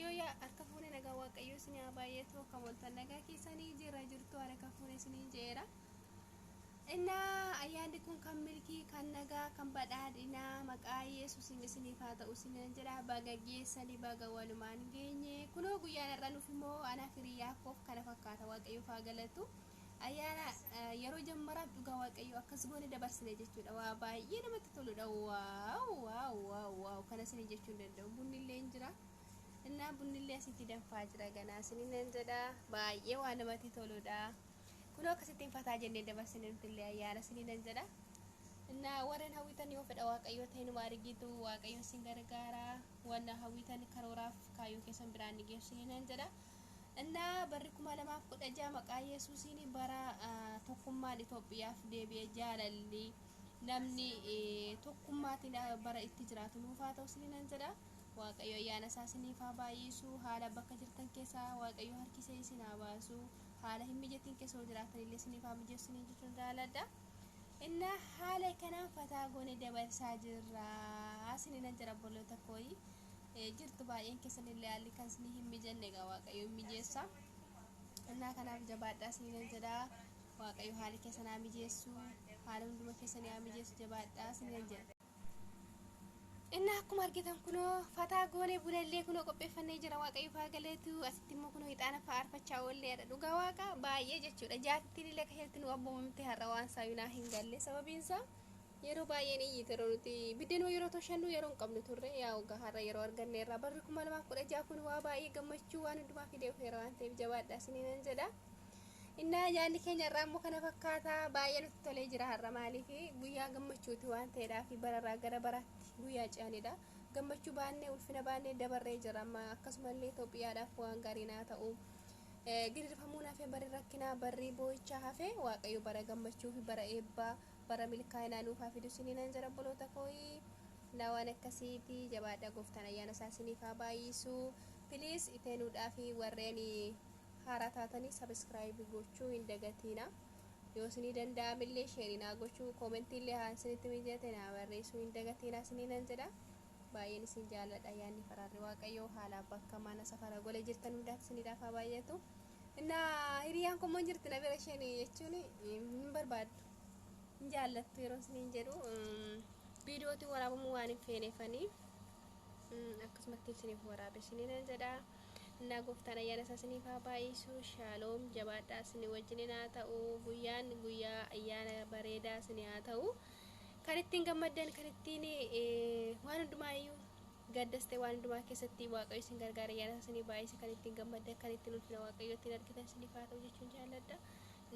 yoo yaa harka fuune nagaa waaqayyoo isin haa baay'eetu kan waltan nagaa keessanii jira jirtu harka fuune isiniin jeera innaa ayyaanni kun kan milkii kan nagaa kan badhaadhinaa maqaa yesuusin isiniif haa ta'u isiniin jedha baga geessanii baga walumaan geenye kunoo guyyaan har'a nuuf immoo anaaf hiriyaa koof kana fakkaata waaqayyoof haa galatu ayyaana yeroo jammaraaf dhugaa waaqayyoo akkas goone dabarsine jechuudha waa baay'ee namatti toludha waaw waaw waaw waaw kana isin jechuu hin danda'u bunni illee hin jira innaa bunni illee asitti danfaa jira ganaa isin nan jedha baay'ee waa namatti toludha kunoo akkasittiin fataa jennee dabarsine nuti illee ayyaana isin nan jedha innaa warreen hawwitan yoo fedha waaqayyoo ta'e numa argitu waaqayyoo isin gargaara wanna hawwitan karooraaf kaayyoo keessan biraan ni geessu nan jedha Innaa barri 2016 maqaa Yesuusiin bara tokkummaan Itoophiyaaf deebi'e jaalalli namni tokkummaatiin bara itti jiraatu nuuf haa ta'u isiniin jedha. Waaqayyo ayyaana isaa isiniif haa baay'isu. Haala bakka jirtan keessaa Waaqayyo harkisee isin haa baasu. Haala hin mijatiin keessoo jiraatan illee isiniif haa mijeessu isiniin jechuun jaaladha. Innaa haala kanaan fataa goone dabarsaa jirra isiniin jedha obboloota kooyi. jirtu baay'een keessan illee haalli kan isinii hin mijanne egaa waaqayyoon mijeessa innaa kanaaf jabaadhaa isiniin jedhaa waaqayyo haali keessan haa mijeessu haala hunduma keessanii haa mijeessu jabaadhaa isiniin jedha. Innaa akkuma argitan kunoo fataa goonee bulallee kunoo qopheeffannee jira waaqayyo faa galeetu asitti immoo kunoo hixaana faa arfachaa oollee jedha dhugaa waaqa baay'ee jechuudha jaartiin illee akka isheetti nu abboomamte har'a waan saayinaa hin galle sababiin isaa Yeroo baay'ee ni iyyite yeroo nuti biddeenuma yeroo toshannu yeroo hin qabnu turre yaa ogaa har'a yeroo arganne irraa barri kuma lamaaf kudha ja'a kun waa baay'ee gammachuu waan hundumaa fidee dhufeera waan ta'eef jabaadhaa isiniinan jedha. Innaa yaadni keenya irraa immoo kana fakkaata baay'ee nutti tolee jira har'a maaliif guyyaa gammachuuti waan ta'eedhaa fi bararraa gara baraatti guyyaa ce'anidha. Gammachuu baannee ulfina baannee dabarree jira amma akkasumallee Itoophiyaadhaaf waan gaarii naa ta'u. Eh, Gidirfamuun hafee barri rakkinaa barri boo'ichaa hafee waaqayyo bara gammachuu fi bara eebbaa bara milkaa'inaa nuuf haa fidu isiniinan jira obboloota kooyi na waan akkasiiti jabaadha gooftaan ayyaana isaa isiniif haa baay'isu piliis iteenuudhaa fi warreen haaraa taatanii sabiskiraayib gochuu hin dagatiina yoo isinii danda'amillee sheerii naa gochuu koomentiillee haa isinitti mijate naa barreessuu hin dagatiina isiniinan jedha baay'een isin jaalladha ayyaanni faraarri waaqayyoo haala bakka mana safara gola jirtan hundaatti isiniidhaaf haa baay'atu. Inna hiriyaan kun immoo jirti na bira isheen jechuun hin barbaaddu. Hin jaallattu yeroo isiniin jedhu viidiyootiin waraabamuu waan hin feeneefanii akkasumatti isiniif waraabe isiniin jedha. Innaa gooftaan ayyaana isaa isiniif haa baay'isu. Shaaloom jabaadhaa isinii wajjin haa ta'u. Guyyaan guyyaa ayyaana bareedaa isinii haa ta'u. Kan ittiin gammaddan kan ittiin waan hundumaa iyyuu Gaddas ta'e waan hundumaa keessatti Waaqayyo isin gargaare ayyaana isaa isinii baay'ise kan ittiin gammaddan kan ittiin ulfina Waaqayyoo ittiin argitan isiniif haa ta'u jechuun jaalladha.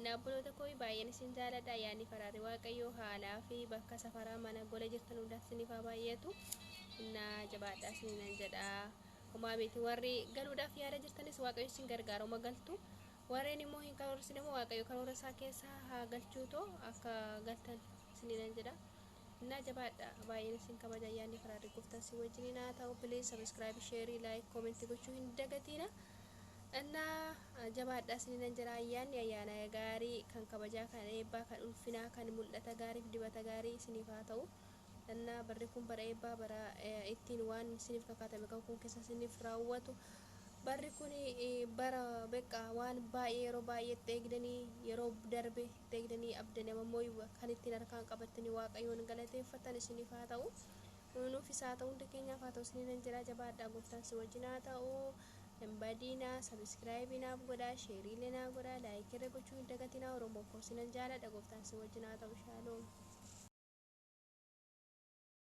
Na obboloota koo baay'een isin jaalladha ayyaanni faraarri Waaqayyoo haalaa fi bakka safaraa mana gola jirtan hundaatti isiniif haa baay'atu. Na jabaadhaa isin nan jedha. Homaa miti warri galuudhaaf yaada jirtanis Waaqayyo isin gargaaruma galtu. Warreen immoo hin karoorsine immoo Waaqayyo karoora isaa keessa haa galchuutoo akka galtan isin nan jedha. Naa jabaadha baay'een isin kabaja ayyaanni faraarri gooftaan si wajjiniin haa ta'u please subscribe share like comment gochuu hin dagatiina innaa jabaadha isininan jira ayyaanni ayyaana gaarii kan kabajaa kan eebbaa kan ulfinaa kan mul'ata gaariif dibata gaarii isiniif haa ta'u innaa barri kun bara eebbaa bara eh, ittiin waan isiniif kakaatame kan kun keessa isiniif raawwatu barri kun eh, bara beqqaa waan baay'ee yeroo baay'eetti eegdanii yeroo darbe dagdanii abda nama moyuwa kan ittiin harkaan qabattanii waaqayyoon galateeffattan isiniif haa ta'u nuufis haa ta'u hunda keenyaaf haa ta'u isiniin nan jedha jabaadhaa gooftaan si wajjin haa ta'u hin badiinaa sabiskiraayibii naaf godhaa sheeriilee naa godhaa laayikirra gochuu hin dagatinaa oromoo koo sinan jaaladha gooftaan si wajjin haa ta'u shaaloom